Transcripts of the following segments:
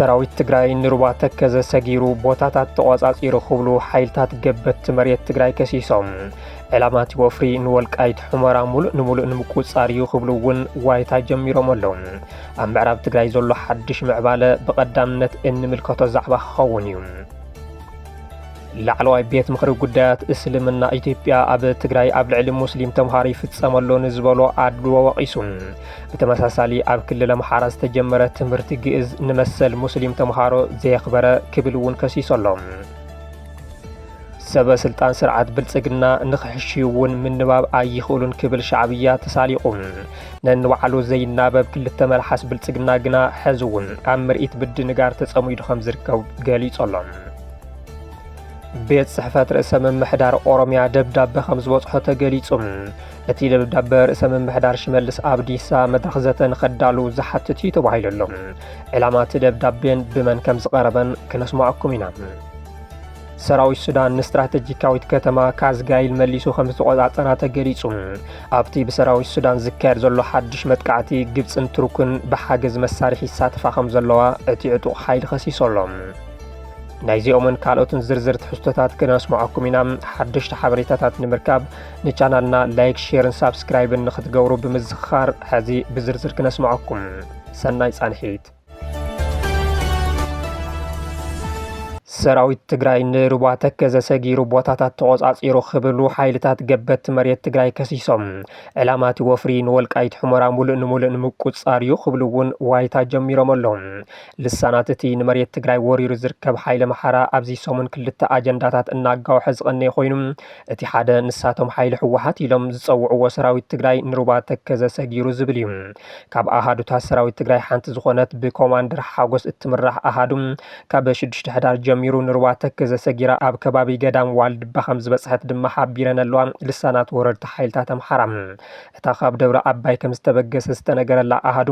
ሰራዊት ትግራይ ንሩባ ተከዘ ሰጊሩ ቦታታት ተቖጻጺሩ ክብሉ ሓይልታት ገበቲ መሬት ትግራይ ከሲሶም ዕላማቲ ወፍሪ ንወልቃይት ሑመራ ሙሉእ ንሙሉእ ንምቁጽጻር እዩ ክብሉ እውን ዋይታ ጀሚሮም ኣለዉ ኣብ ምዕራብ ትግራይ ዘሎ ሓድሽ ምዕባለ ብቐዳምነት እንምልከቶ ዛዕባ ክኸውን እዩ። ላዕለዋይ ቤት ምኽሪ ጉዳያት እስልምና ኢትዮጵያ ኣብ ትግራይ ኣብ ልዕሊ ሙስሊም ተምሃሮ ይፍጸም ኣሎ ንዝበሎ ኣድልዎ ወቒሱ። ብተመሳሳሊ ኣብ ክልል ኣምሓራ ዝተጀመረ ትምህርቲ ግእዝ ንመሰል ሙስሊም ተምሃሮ ዘየኽበረ ክብል እውን ከሲሱ ኣሎ። ሰበ ስልጣን ስርዓት ብልጽግና ንክሕሽይ'ውን ምንባብ ኣይኽእሉን ክብል ሻዕብያ ተሳሊቑ። ነንባዕሉ ዘይናበብ ክልተ መልሓስ ብልጽግና ግና ሕዚ'ውን ኣብ ምርኢት ብድንጋር ተጸሚዱ ከም ዝርከብ ገሊጹ ኣሎ። ቤት ጽሕፈት ርእሰ ምምሕዳር ኦሮሚያ ደብዳበ ከም ዝበጽሖ ተገሊጹ። እቲ ደብዳበ ርእሰ ምምሕዳር ሽመልስ ኣብዲሳ መድረኽ ዘተ ንኸዳሉ ዝሓትት እዩ ተባሂሉ ኣሎ። ዕላማ እቲ ደብዳቤን ብመን ከም ዝቐረበን ክነስማዕኩም ኢና። ሰራዊት ሱዳን ንስትራተጂካዊት ከተማ ካዝጋይል መሊሱ ከም ዝተቖጻጸራ ተገሊጹ። ኣብቲ ብሰራዊት ሱዳን ዝካየድ ዘሎ ሓድሽ መጥቃዕቲ ግብጽን ቱርክን ብሓገዝ መሳርሒ ይሳተፋ ከም ዘለዋ እቲ ዕጡቕ ሓይሊ ከሲሶ ኣሎ። ናይዚኦምን ካልኦትን ዝርዝር ትሕዝቶታት ክነስምዓኩም ኢና። ሓደሽቲ ሓበሬታታት ንምርካብ ንቻናልና ላይክ፣ ሼርን ሳብስክራይብን ንክትገብሩ ብምዝኽኻር ሕዚ ብዝርዝር ክነስምዓኩም። ሰናይ ጻንሒት። ሰራዊት ትግራይ ንሩባ ተከዘ ሰጊሩ ቦታታት ተቖጻጺሩ ክብሉ ሓይልታት ገበቲ መሬት ትግራይ ከሲሶም ዕላማ እቲ ወፍሪ ንወልቃይት ሕሞራ ሙሉእ ንሙሉእ ንምቁጻር እዩ ክብሉ እውን ዋይታ ጀሚሮም ኣለዉ። ልሳናት እቲ ንመሬት ትግራይ ወሪሩ ዝርከብ ሓይለ መሓራ ኣብዚ ሰሙን ክልተ ኣጀንዳታት እናጋውሐ ዝቐነየ ኮይኑ እቲ ሓደ ንሳቶም ሓይሊ ህወሓት ኢሎም ዝጸውዕዎ ሰራዊት ትግራይ ንሩባ ተከዘ ሰጊሩ ዝብል እዩ። ካብ ኣሃዱታት ሰራዊት ትግራይ ሓንቲ ዝኾነት ብኮማንደር ሓጎስ እትምራሕ ኣሃዱ ካብ ሽዱሽተ ሕዳር ጀሚሩ ንሩባ ተከዘ ሰጊራ ኣብ ከባቢ ገዳም ዋልድባ ከም ዝበፅሐት ድማ ሓቢረን ኣለዋ ልሳናት ወረርቲ ሓይልታት ኣምሓራ። እታ ካብ ደብረ ኣባይ ከም ዝተበገሰት ዝተነገረላ ኣሃዱ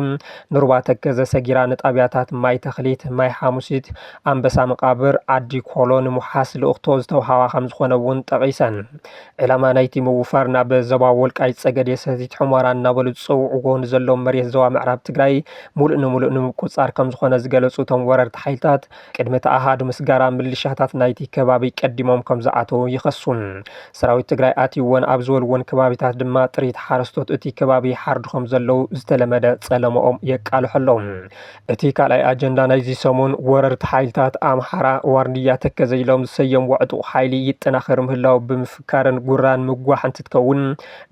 ንሩባ ተከዘ ሰጊራ ንጣብያታት ማይ ተኽሊት፣ ማይ ሓሙሲት፣ ኣምበሳ መቓብር፣ ዓዲ ኮሎ ንምውሓስ ልእኽቶ ዝተውሃባ ከም ዝኾነ እውን ጠቒሰን። ዕላማ ናይቲ ምውፋር ናብ ዞባ ወልቃይት ጸገዴ ሰቲት ሑመራ እናበሉ ዝጸውዕዎ ንዘለዎም መሬት ዞባ ምዕራብ ትግራይ ሙሉእ ንሙሉእ ንምቁጻር ከምዝኾነ ዝገለጹ እቶም ወረርቲ ሓይልታት ቅድሚ እቲ ኣሃዱ ምስጋራ ምልሻታት ናይቲ ከባቢ ቀዲሞም ከምዝኣተው ይኸሱ። ሰራዊት ትግራይ ኣትይወን ኣብ ዝበልዎን ከባቢታት ድማ ጥሪት ሓረስቶት እቲ ከባቢ ይሓርዱ ከምዘለው ዝተለመደ ጸለመኦም የቃልሑ ኣለው። እቲ ካልኣይ ኣጀንዳ ናይዚ ሰሙን ወረርቲ ሓይልታት ኣምሓራ ዋርድያ ተከዘ ኢሎም ዝሰየምዎ ዕጡቕ ሓይሊ ይጠናኸር ምህላው ብምፍካርን ጉራን ምጓሕ እንትትከውን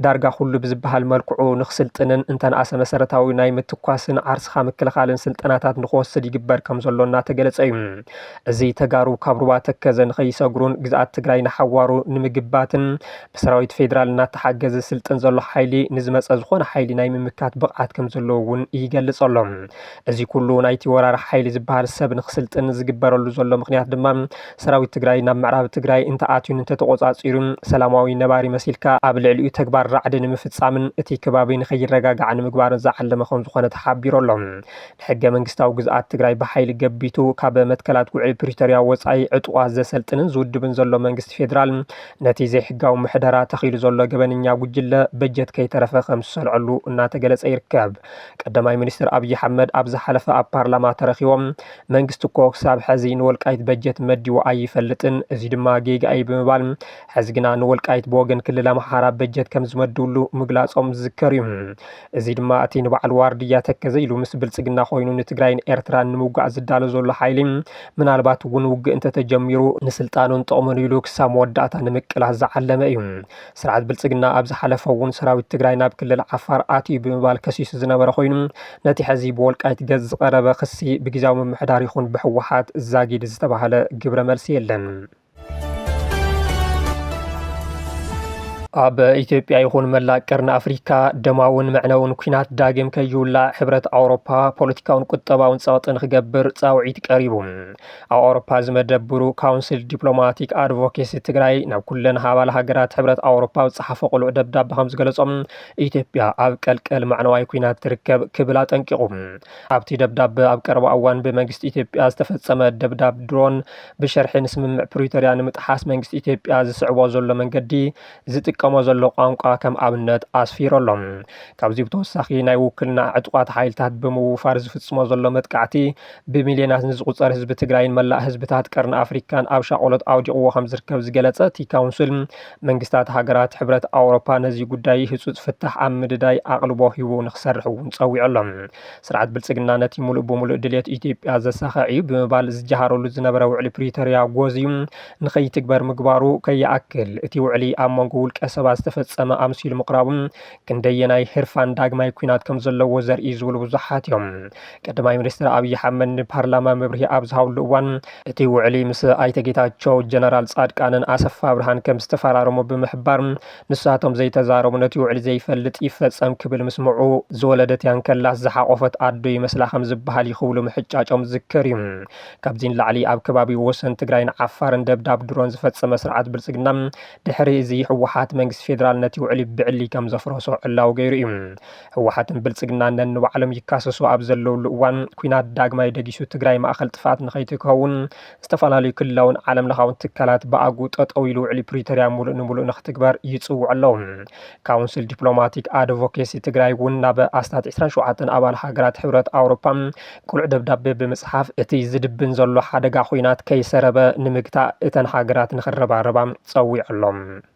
ዳርጋ ኩሉ ብዝበሃል መልክዑ ንክስልጥንን እንተነኣሰ መሰረታዊ ናይ ምትኳስን ዓርስኻ ምክልኻልን ስልጠናታት ንክወስድ ይግበር ከምዘሎ እናተገለፀ እዩ። እዚ ተጋሩ ካብ ሩባ ተከዘ ንከይሰግሩን ግዝኣት ትግራይ ንሓዋሩ ንምግባትን ብሰራዊት ፌዴራል እናተሓገዘ ዝስልጥን ዘሎ ሓይሊ ንዝመፀ ዝኾነ ሓይሊ ናይ ምምካት ብቕዓት ከም ዘለዎ እውን ይገልፅ ኣሎ። እዚ ኩሉ ናይቲ ወራሪ ሓይሊ ዝበሃል ሰብ ንክስልጥን ዝግበረሉ ዘሎ ምኽንያት ድማ ሰራዊት ትግራይ ናብ ምዕራብ ትግራይ እንተኣትዩን እንተተቖፃፂሩን ሰላማዊ ነባሪ መሲልካ ኣብ ልዕሊኡ ተግባር ራዕዲ ንምፍፃምን እቲ ከባቢ ንከይረጋጋዕ ንምግባርን ዝዓለመ ከም ዝኾነ ተሓቢሩ ኣሎ። ንሕገ መንግስታዊ ግዝኣት ትግራይ ብሓይሊ ገቢቱ ካብ መትከላት ውዕሊ ፕሪቶሪያ ወፃኢ ዕጡቓት ዘሰልጥንን ዝውድብን ዘሎ መንግስቲ ፌዴራል ነቲ ዘይሕጋዊ ምሕደራ ተኺሉ ዘሎ ገበነኛ ጉጅለ በጀት ከይተረፈ ከም ዝሰልዐሉ እናተገለፀ ይርከብ። ቀዳማይ ሚኒስትር ኣብዪ ሓመድ ኣብ ዝሓለፈ ኣብ ፓርላማ ተረኺቦም መንግስቲ እኮ ክሳብ ሐዚ ንወልቃይት በጀት መዲቡ ኣይፈልጥን እዙይ ድማ ጌጋ እዩ ብምባል ሐዚ ግና ንወልቃይት ብወገን ክልል ኣምሓራ በጀት ከም ዝመድብሉ ምግላፆም ዝዝከር እዩ። እዚ ድማ እቲ ንባዕሉ ዋርድያ ተከዘ ኢሉ ምስ ብልጽግና ኮይኑ ንትግራይን ኤርትራን ንምውጋእ ዝዳሎ ዘሎ ሓይሊ ምናልባት እውን ውግእ እንተተጀሚሩ ንስልጣኑን ጥቕሙን ኢሉ ክሳብ መወዳእታ ንምቅላስ ዝዓለመ እዩ። ስርዓት ብልጽግና ኣብ ዝሓለፈ እውን ሰራዊት ትግራይ ናብ ክልል ዓፋር ኣትዩ ብምባል ከሲሱ ዝነበረ ኮይኑ ነቲ ሕዚ ብወልቃይት ገጽ ዝቐረበ ክሲ ብግዝያዊ ምምሕዳር ይኹን ብህወሓት ዛጊድ ዝተባህለ ግብረ መልሲ የለን። ኣብ ኢትዮጵያ ይኹን መላእ ቀርኒ ኣፍሪካ ደማውን መዕነውን ኩናት ዳግም ከይውላዕ ሕብረት ኣውሮፓ ፖለቲካውን ቁጠባውን ፀቕጢ ንክገብር ፃውዒት ቀሪቡ ኣብ ኣውሮፓ ዝመደብሩ ካውንስል ዲፕሎማቲክ ኣድቮኬሲ ትግራይ ናብ ኩለን ሃባል ሃገራት ሕብረት ኣውሮፓ ዝፀሓፈ ቅሉዕ ደብዳቤ ከም ዝገለፆም ኢትዮጵያ ኣብ ቀልቀል መዕነዋይ ኩናት ትርከብ ክብል ኣጠንቂቑ ኣብቲ ደብዳቤ ኣብ ቀረባ እዋን ብመንግስቲ ኢትዮጵያ ዝተፈፀመ ደብዳብ ድሮን ብሸርሒ ንስምምዕ ፕሪቶርያ ንምጥሓስ መንግስቲ ኢትዮጵያ ዝስዕቦ ዘሎ መንገዲ ዝጥቀሞ ዘሎ ቋንቋ ከም ኣብነት ኣስፊሩ ኣሎ። ካብዚ ብተወሳኺ ናይ ውክልና ዕጡቓት ሓይልታት ብምውፋር ዝፍፅሞ ዘሎ መጥቃዕቲ ብሚልዮናት ንዝቑፀር ህዝቢ ትግራይን መላእ ህዝብታት ቀርኒ ኣፍሪካን ኣብ ሻቆሎት ኣውዲቕዎ ከም ዝርከብ ዝገለፀ እቲ ካውንስል መንግስታት ሃገራት ሕብረት ኣውሮፓ ነዚ ጉዳይ ህፁፅ ፍታሕ ኣብ ምድዳይ ኣቕልቦ ሂቡ ንክሰርሕ እውን ፀዊዑ ኣሎ። ስርዓት ብልፅግና ነቲ ሙሉእ ብሙሉእ ድልየት ኢትዮጵያ ዘሳኽዕ እዩ ብምባል ዝጀሃረሉ ዝነበረ ውዕሊ ፕሪቶርያ ጎዝዩ ንከይትግበር ምግባሩ ከይኣክል እቲ ውዕሊ ኣብ መንጎ ውልቀ ሰባት ዝተፈፀመ ኣምሲሉ ምቕራቡ ክንደየናይ ህርፋን ዳግማይ ኲናት ከምዘለዎ ዘርኢ እዩ ዝብሉ ብዙሓት እዮም። ቀዳማይ ሚኒስትር ኣብይ ኣሕመድ ንፓርላማ መብርሂ ኣብ ዝሃብሉ እዋን እቲ ውዕሊ ምስ ኣይተ ጌታቸው፣ ጀነራል ፃድቃንን ኣሰፋ ኣብርሃን ከምዝተፈራረሙ ብምሕባር ንሳቶም ዘይተዛረቡ ነቲ ውዕሊ ዘይፈልጥ ይፈጸም ክብል ምስምዑ ዝወለደት እያ እንከላስ ዝሓቖፈት ኣዶ ይመስላ ከም ዝበሃል እዩ ክብሉ ምሕጫጮም ዝዝከር እዩ። ካብዚ ንላዕሊ ኣብ ከባቢ ወሰን ትግራይን ዓፋርን ደብዳብ ድሮን ዝፈጸመ ስርዓት ብልጽግና ድሕሪ እዚ ህወሓት መንግስቲ ፌደራል ነቲ ውዕሊ ብዕሊ ከም ዘፍረሶ ዕላዊ ገይሩ እዩ። ህወሓትን ብልጽግናን ነንባዕሎም ይካሰሱ ኣብ ዘለውሉ እዋን ኲናት ዳግማይ ደጊሱ ትግራይ ማእኸል ጥፍኣት ንኸይትከውን ዝተፈላለዩ ክልላውን ዓለም ለኻውን ትካላት ብኣግኡ ጠጠው ኢሉ ውዕሊ ፕሪቶርያ ሙሉእ ንሙሉእ ንክትግበር ይፅውዑ ኣለው። ካውንስል ዲፕሎማቲክ ኣድቮኬሲ ትግራይ እውን ናብ ኣስታት 27 ኣባል ሃገራት ሕብረት ኣውሮፓ ቅሉዕ ደብዳቤ ብምፅሓፍ እቲ ዝድብን ዘሎ ሓደጋ ኹናት ከይሰረበ ንምግታእ እተን ሃገራት ንክረባረባ ፀዊዑ ኣሎ።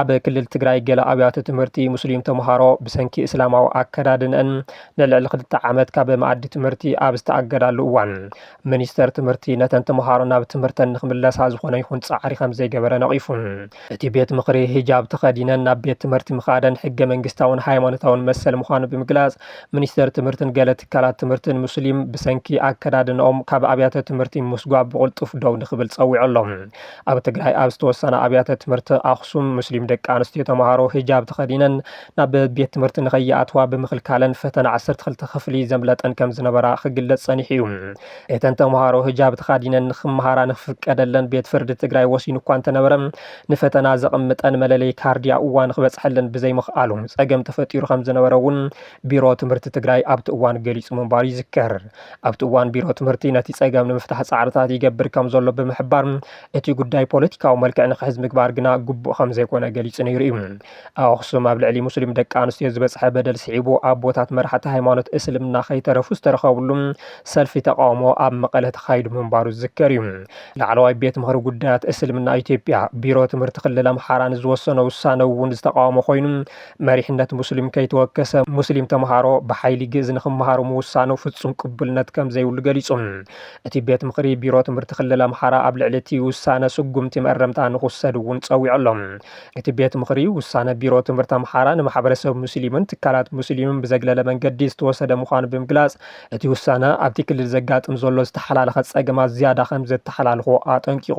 ኣብ ክልል ትግራይ ገለ ኣብያተ ትምህርቲ ሙስሊም ተምሃሮ ብሰንኪ እስላማዊ ኣከዳድንኣን ንልዕሊ ክልተ ዓመት ካብ መኣዲ ትምህርቲ ኣብ ዝተኣገዳሉ እዋን ሚኒስተር ትምህርቲ ነተን ተምሃሮ ናብ ትምህርተን ንክምለሳ ዝኾነ ይኹን ፃዕሪ ከምዘይገበረ ነቒፉ። እቲ ቤት ምኽሪ ሂጃብ ተኸዲነን ናብ ቤት ትምህርቲ ምኻደን ሕገ መንግስታውን ሃይማኖታውን መሰል ምዃኑ ብምግላፅ ሚኒስተር ትምህርትን ገለ ትካላት ትምህርትን ሙስሊም ብሰንኪ ኣከዳድንኦም ካብ ኣብያተ ትምህርቲ ምስጓግ ብቕልጡፍ ደው ንክብል ፀዊዑ ኣሎ። ኣብ ትግራይ ኣብ ዝተወሰና ኣብያተ ትምህርቲ ኣኽሱም ሙስሊም ደቂ ኣንስትዮ ተምሃሮ ሂጃብ ተኸዲነን ናብ ቤት ትምህርቲ ንከይኣትዋ ብምኽልካለን ፈተና ዓሰርተ ክልተ ክፍሊ ዘምለጠን ከም ዝነበራ ክግለጽ ጸኒሑ እዩ። እተን ተምሃሮ ሂጃብ ተኻዲነን ንክመሃራ ንክፍቀደለን ቤት ፍርዲ ትግራይ ወሲኑ እኳ እንተነበረ ንፈተና ዘቕምጠን መለለይ ካርዲ ኣብኡ እዋን ክበጽሐለን ብዘይምኽኣሉ ጸገም ተፈጢሩ ከም ዝነበረ እውን ቢሮ ትምህርቲ ትግራይ ኣብቲ እዋን ገሊፁ ምንባሩ ይዝከር። ኣብቲ እዋን ቢሮ ትምህርቲ ነቲ ፀገም ንምፍታሕ ፃዕርታት ይገብር ከምዘሎ ብምሕባር እቲ ጉዳይ ፖለቲካዊ መልክዕ ንክሕዝ ምግባር ግና ግቡእ ከምዘይኮነ ገሊፁ ነይሩ እዩ። ኣብ ኣኽሱም ኣብ ልዕሊ ሙስሊም ደቂ ኣንስትዮ ዝበፅሐ በደል ስዒቡ ኣቦታት መራሕቲ ሃይማኖት እስልምና ከይተረፉ ዝተረኸብሉ ሰልፊ ተቓውሞ ኣብ መቐለ ተኻይዱ ምንባሩ ዝዝከር እዩ። ላዕለዋይ ቤት ምኽሪ ጉዳያት እስልምና ኢትዮጵያ ቢሮ ትምህርቲ ክልል ኣምሓራ ንዝወሰኖ ውሳነ እውን ዝተቓወሞ ኮይኑ መሪሕነት ሙስሊም ከይተወከሰ ሙስሊም ተምሃሮ ብሓይሊ ግእዝ ንክመሃሩ ምውሳኑ ፍፁም ቅቡልነት ከምዘይብሉ ገሊፁ። እቲ ቤት ምኽሪ ቢሮ ትምህርቲ ክልል ኣምሓራ ኣብ ልዕሊ እቲ ውሳነ ስጉምቲ መእረምታ ንክውሰድ እውን ፀዊዑ ኣሎ። እቲ ቤት ምኽሪ ውሳነ ቢሮ ትምህርቲ ኣምሓራ ንማሕበረሰብ ሙስሊምን ትካላት ሙስሊምን ብዘግለለ መንገዲ ዝተወሰደ ምዃኑ ብምግላፅ እቲ ውሳነ ኣብቲ ክልል ዘጋጥም ዘሎ ዝተሓላለኸ ፀገማት ዝያዳ ከምዘተሓላልኾ ኣጠንቂቑ።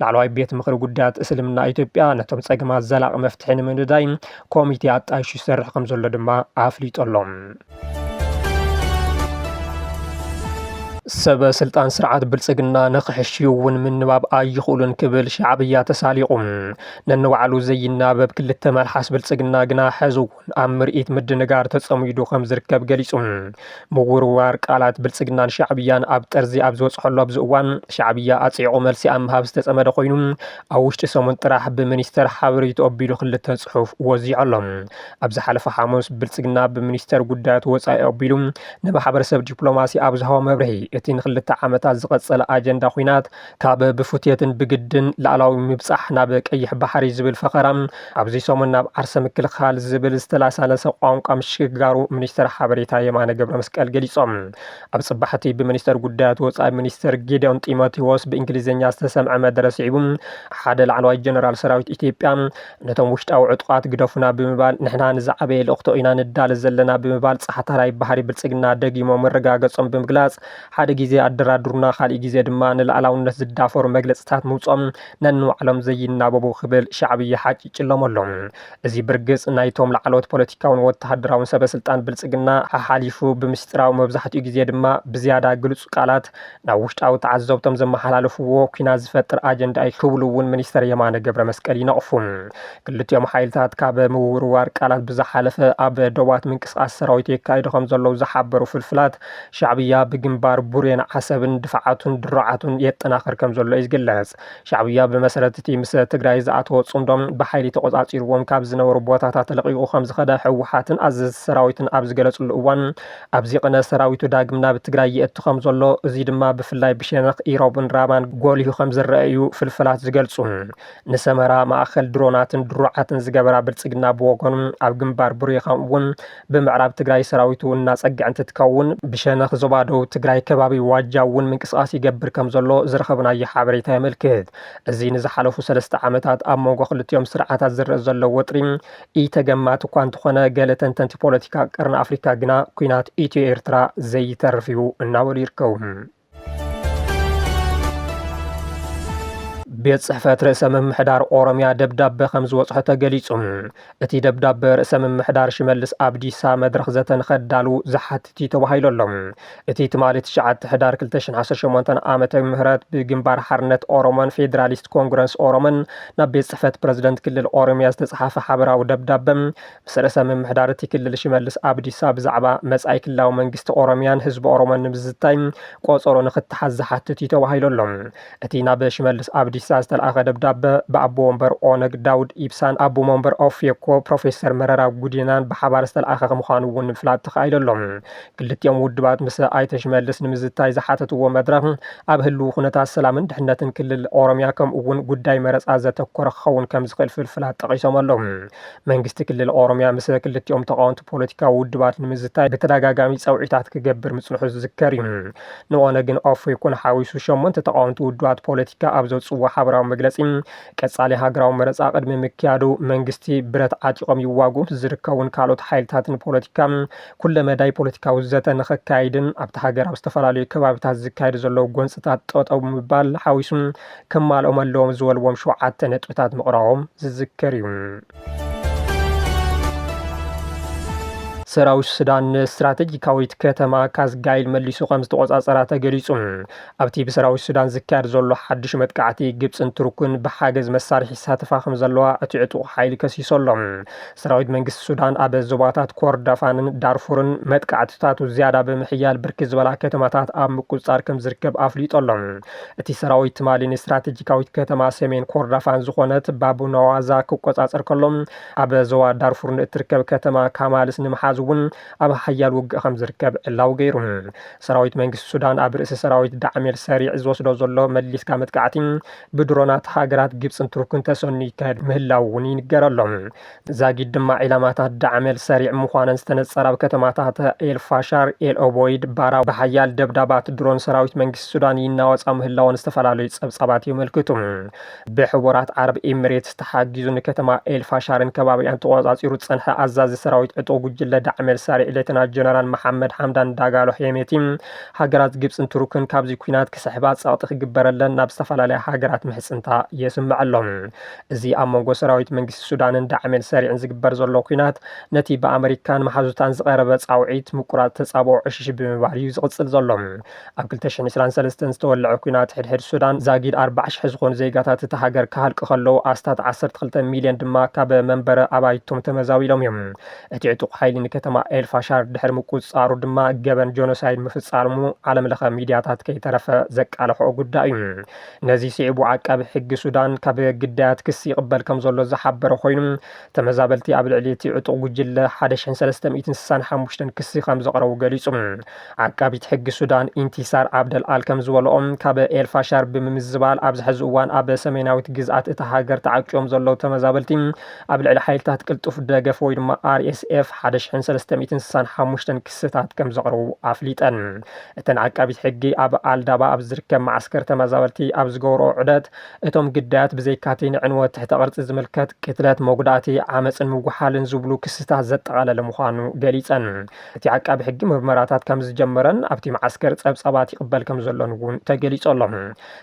ላዕለዋይ ቤት ምኽሪ ጉዳያት እስልምና ኢትዮጵያ ነቶም ጸገማት ዘላቒ መፍትሒ ንምንዳይ ኮሚቴ ኣጣይሹ ይሰርሕ ከም ዘሎ ድማ ኣፍሊጡ ኣሎ። ሰበ ስልጣን ስርዓት ብልጽግና ንኽሕሽዩ እውን ምንባብ ኣይኽእሉን ክብል ሻዕብያ ተሳሊቑ ነንባዕሉ ዘይናበብ ክልተ መልሓስ ብልጽግና ግና ሕዚ ኣብ ምርኢት ምድንጋር ተጸሚዱ ከም ዝርከብ ገሊጹ። ምውርዋር ቃላት ብልጽግናን ሻዕብያን ኣብ ጠርዚ ኣብ ዝበጽሖሉ ኣብዚ እዋን፣ ሻዕብያ ኣጽዒቑ መልሲ ኣብ ምሃብ ዝተጸመደ ኮይኑ፣ ኣብ ውሽጢ ሰሙን ጥራሕ ብሚኒስተር ሓበሬትኡ ኣቢሉ ክልተ ጽሑፍ ወዚዑ ኣሎ። ኣብ ዝሓለፈ ሓሙስ ብልጽግና ብሚኒስተር ጉዳያት ወጻኢ ኣቢሉ ንማሕበረሰብ ዲፕሎማሲ ኣብ ዝሃቦ መብርሂ፣ እቲ ንክልተ ዓመታት ዝቐጸለ ኣጀንዳ ኲናት፣ ካብ ብፉትየትን ብግድን ላዕላዊ ምብጻሕ ናብ ቀይሕ ባሕሪ ዝብል ፈኸራ ኣብዚ ሰሙን ናብ ዓርሰ ምክልኻል ዝብል ዝተላሳለሰ ቋንቋ ምሽግጋሩ ሚኒስተር ሓበሬታ የማነ ገብረመስቀል ገሊጾም። ኣብ ጽባሕቲ ብሚኒስተር ጉዳያት ወጻኢ ሚኒስተር ጌዲዮን ጢሞቴዎስ ብእንግሊዝኛ ዝተሰምዐ መደረ ስዒቡ ሓደ ላዕለዋይ ጀነራል ሰራዊት ኢትዮጵያ ነቶም ውሽጣዊ ዕጡቓት ግደፉና ብምባል ንሕና ንዝዓበየ ልእኽቶ ኢና ንዳለ ዘለና ብምባል ጻሕታራይ ባህሪ ብልጽግና ደጊሞም ምርጋገጾም ብምግላጽ ሓደ ግዜ ኣደራድሩና ካልእ ግዜ ድማ ንልኣላውነት ዝዳፈሩ መግለጽታት ምውጽኦም ነንባዕሎም ዘይናበቡ ክብል ሻዕብያ ሓጪጭሎም ኣሎ። እዚ ብርግጽ ናይቶም ላዕለዎት ፖለቲካውን ወተሃደራውን ሰበስልጣን ብልጽግና ሓሓሊፉ ብምስጢራዊ መብዛሕትኡ ግዜ ድማ ብዝያዳ ግሉጽ ቃላት ናብ ውሽጣዊ ተዓዘብቶም ዘመሓላልፍዎ ኩናት ዝፈጥር ኣጀንዳ እዩ ክብሉ እውን ሚኒስተር የማነ ገብረመስቀል ይነቕፉ። ክልቲኦም ሓይልታት ካብ ምውርዋር ቃላት ብዝሓለፈ ኣብ ዶባት ምንቅስቓስ ሰራዊት የካይዱ ከምዘለዉ ዝሓበሩ ፍልፍላት፣ ሻዕብያ ብግንባር ቡሬን ዓሰብን ድፋዓቱን ድሮዓቱን የጠናኽር ከምዘሎ እዩ ዝግለጽ። ሻዕብያ ብመሰረት እቲ ምስ ትግራይ ዝኣተዎ ጽምዶ ብሓይሊ ተቖጻጺርዎም ካብ ዝነበሩ ቦታታት ለቒቑ ከምዝኸደ ህወሓትን ኣዘዝቲ ሰራዊትን ኣብ ዝገለጽሉ እዋን ኣብዚ ቕነ ሰራዊቱ ዳግም ናብ ትግራይ የእቱ ከምዘሎ እዙይ ድማ ብፍላይ ብሸነኽ ኢሮብን ራማን ጎሊሁ ከምዝረኣ እዩ ፍልፈላት ዝገልጹ። ንሰመራ ማእኸል ድሮናትን ድሮዓትን ዝገበራ ብልጽግና ብወገኑ ኣብ ግንባር ቡሬ ከምኡ እውን ብምዕራብ ትግራይ ሰራዊቱ እናፀግዐ እንትትከውን ብሸነኽ ዞባ ደቡብ ትግራይ ከባቢ ዋጃ እውን ምንቅስቓስ ይገብር ከም ዘሎ ዝረኸብናዮ ሓበሬታ የመልክት። እዚ ንዝሓለፉ ሰለስተ ዓመታት ኣብ መንጎ ክልቲኦም ስርዓታት ዝረእ ዘሎ ወጥሪ ኢተገማቲ እኳ እንተኾነ ገለ ተንተንቲ ፖለቲካ ቀርኒ ኣፍሪካ ግና ኩናት ኢትዮ ኤርትራ ዘይተርፍ እዩ እናበሉ ይርከቡ። ቤት ጽሕፈት ርእሰ ምምሕዳር ኦሮሚያ ደብዳበ ከም ዝወጽሖ ተገሊጹ እቲ ደብዳበ ርእሰ ምምሕዳር ሽመልስ ኣብዲሳ መድረኽ ዘተ ንኸዳሉ ዝሓትት እዩ ተባሂሉ ኣሎ እቲ ትማሊ ትሽዓተ ሕዳር 218 ዓመተ ምህረት ብግንባር ሓርነት ኦሮሞን ፌዴራሊስት ኮንግረስ ኦሮሞን ናብ ቤት ጽሕፈት ፕረዚደንት ክልል ኦሮሚያ ዝተጽሓፈ ሓበራዊ ደብዳበ ምስ ርእሰ ምምሕዳር እቲ ክልል ሽመልስ ኣብዲሳ ብዛዕባ መጻኢ ክልላዊ መንግስቲ ኦሮሚያን ህዝቢ ኦሮሞን ንምዝታይ ቆጸሮ ንክተሓዝ ዝሓትት እዩ ተባሂሉ ኣሎ። እቲ ናብ ሽመልስ ኣብዲሳ ዝተልኣኸ ደብዳበ ብኣቦ ወንበር ኦነግ ዳውድ ኢብሳን ኣቡ መንበር ኦፌኮ ፕሮፌሰር መረራ ጉዲናን ብሓባር ዝተልኣኸ ምዃኑ እውን ንምፍላጥ ተኻኢሉ ኣሎ። ክልቲኦም ውድባት ምስ ኣይተ ሽመልስ ንምዝታይ ዝሓተትዎ መድረኽ ኣብ ህልው ኩነታት ሰላምን ድሕነትን ክልል ኦሮሚያ ከምኡ እውን ጉዳይ መረጻ ዘተኮረ ክኸውን ከምዝኽእል ፍልፍላት ጠቒሶም ኣለዉ። መንግስቲ ክልል ኦሮሚያ ምስ ክልቲኦም ተቓወምቲ ፖለቲካዊ ውድባት ንምዝታይ ብተደጋጋሚ ጸውዒታት ክገብር ምጽንሑ ዝዝከር እዩ። ንኦነግን ኦፌኮን ሓዊሱ ሸሞንተ ተቓወምቲ ውድባት ፖለቲካ ኣብ ዘውጽእዎ ሓበራዊ መግለጺ፣ ቀጻሊ ሃገራዊ መረጻ ቅድሚ ምክያዱ መንግስቲ ብረት ዓጢቖም ይዋግኡን ዝርከቡን ካልኦት ሓይልታትን ፖለቲካ ኩለመዳይ ፖለቲካዊ ዘተ ንኸካይድን ኣብታ ሃገር ኣብ ዝተፈላለዩ ከባቢታት ዝካየዱ ዘለዉ ጎንጽታት ጠጠው ምባል ሓዊሱ ክማልኦም ኣለዎም ዝበልዎም ሸውዓተ ነጥብታት ምቕራቦም ዝዝከር እዩ። ሰራዊት ሱዳን ንስትራተጂካዊት ከተማ ካዝጋይል መሊሱ ከም ዝተቖጻጸራ ተገሊጹ። ኣብቲ ብሰራዊት ሱዳን ዝካየድ ዘሎ ሓድሽ መጥቃዕቲ ግብጽን ቱርክን ብሓገዝ መሳርሒ ይሳተፋ ከም ዘለዋ እቲ ዕጡቕ ሓይሊ ከሲሱ ኣሎ። ሰራዊት መንግስቲ ሱዳን ኣብ ዞባታት ኮርዳፋንን ዳርፉርን መጥቃዕትታቱ ዝያዳ ብምሕያል ብርክት ዝበላ ከተማታት ኣብ ምቁፅፃር ከም ዝርከብ ኣፍሊጡ ኣሎ። እቲ ሰራዊት ትማሊ ንስትራቴጂካዊት ከተማ ሰሜን ኮርዳፋን ዝኾነት ባቡናዋዛ ክቆፃፀር ከሎ ኣብ ዞባ ዳርፉር ንእትርከብ ከተማ ካማልስ ንምሓዝ እውን ኣብ ሓያል ውግእ ከም ዝርከብ ዕላዊ ገይሩ። ሰራዊት መንግስቲ ሱዳን ኣብ ርእሲ ሰራዊት ዳዕሜል ሰሪዕ ዝወስዶ ዘሎ መሊስካ መጥቃዕቲ ብድሮናት ሃገራት ግብጽን ቱርክን ተሰንዩ ይካየድ ምህላው እውን ይንገር ኣሎ። ዛጊድ ድማ ዒላማታት ዳዕመል ሰሪዕ ምዃነን ዝተነጸረ ኣብ ከተማታት ኤልፋሻር፣ ኤልኦቦይድ፣ ባራ ብሓያል ደብዳባት ድሮን ሰራዊት መንግስቲ ሱዳን ይናወጻ ምህላወን ዝተፈላለዩ ጸብጻባት የመልክቱ። ብሕቡራት ዓረብ ኤሚሬትስ ተሓጊዙ ንከተማ ኤልፋሻርን ከባቢኣን ተቖጻጺሩ ዝጸንሐ ኣዛዚ ሰራዊት ዕጡቕ ጉጅለ ዳዕመል ሰሪዕ ሌተና ጀነራል መሓመድ ሓምዳን ዳጋሎ ሄሜቲ ሃገራት ግብጽን ቱርክን ካብዚ ኲናት ክስሕባ ጸቕጢ ክግበረለን ናብ ዝተፈላለያ ሃገራት ምሕጽንታ የስምዕ ኣሎ። እዚ ኣብ መንጎ ሰራዊት መንግስቲ ሱዳንን ዳዕሜል ሰሪዕን ዝግበር ዘሎ ኲናት ነቲ ብኣመሪካን መሓዙታን ዝቐረበ ጻውዒት ምቁራጽ ተጻብኦ ዕሽሽ ብምባል እዩ ዝቕጽል ዘሎ። ኣብ ክልተ ሽሕን ዕስራን ሰለስተን ዝተወልዐ ኲናት ሕድሕድ ሱዳን ዛጊድ ኣርባዓ ሽሕ ዝኾኑ ዜጋታት እታ ሃገር ክሃልቁ ከለዉ ኣስታት ዓሰርተ ክልተ ሚልዮን ድማ ካብ መንበረ ኣባይቶም ተመዛቢሎም እዮም። እቲ ዕጡቕ ሓይሊ ንከተማ ኤል ፋሻር ድሕሪ ምቁጽጻሩ ድማ ገበን ጆኖሳይድ ምፍጻርሙ ዓለምለኸ ሚድያታት ከይተረፈ ዘቃለሕኦ ጉዳይ እዩ። ነዚ ስዒቡ ዓቃቢ ሕጊ ሱዳን ካብ ግዳያት ክሲ ይቕበል ከምዘሎ ዝሓበረ ኮይኑ፣ ተመዛበልቲ ኣብ ልዕሊ እቲ ዕጡቕ ጉጅለ ሓደ ሽሕን ሰለስተ ሚእትን ስሳን ሓሙሽተን ክሲ ከምዘቕረቡ ገሊጹ። ዓቃቢት ሕጊ ሱዳን ኢንቲሳር ዓብደል ኣል ከምዝበልኦ፣ ካብ ኤል ፋሻር ብምምዝባል ኣብዚ ሕዚ እዋን ኣብ ሰሜናዊት ግዝኣት እታ ሃገር ተዓቂቦም ዘለዉ ተመዛበልቲ ኣብ ልዕሊ ሓይልታት ቅልጡፍ ደገፍ ወይ ድማ RSF ሓደ ሽሕን ሰለስተ ሚእትን ስሳን ሓሙሽተን ክስታት ከም ዘቕረቡ ኣፍሊጠን። እተን ዓቃቢት ሕጊ ኣብ ኣልዳባ ኣብ ዝርከብ መዓስከር ተመዛበልቲ ኣብ ዝገብረኦ ዑደት እቶም ግዳያት ብዘይካቲ ንዕንወት ትሕተ ቅርጺ ዝምልከት ቅትለት፣ መጉዳእቲ፣ ዓመጽን ምጉሓልን ዝብሉ ክስታት ዘጠቓለለ ምዃኑ ገሊጸን። እቲ ዓቃቢ ሕጊ ምርመራታት ከም ዝጀመረን ኣብቲ መዓስከር ጸብጻባት ይቕበል ከም ዘሎን እውን ተገሊጹ ኣሎ።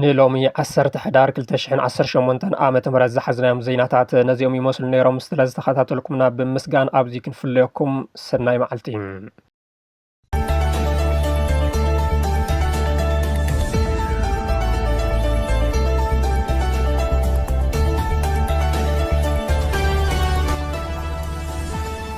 ንሎሚ ዓሰርተ ሕዳር 218 ዓ ም ዝሓዝናዮም ዜናታት ነዚኦም ይመስሉ ነይሮም ስለ ዝተኸታተልኩምና ብምስጋን ኣብዚ ክንፍለየኩም ሰናይ መዓልቲ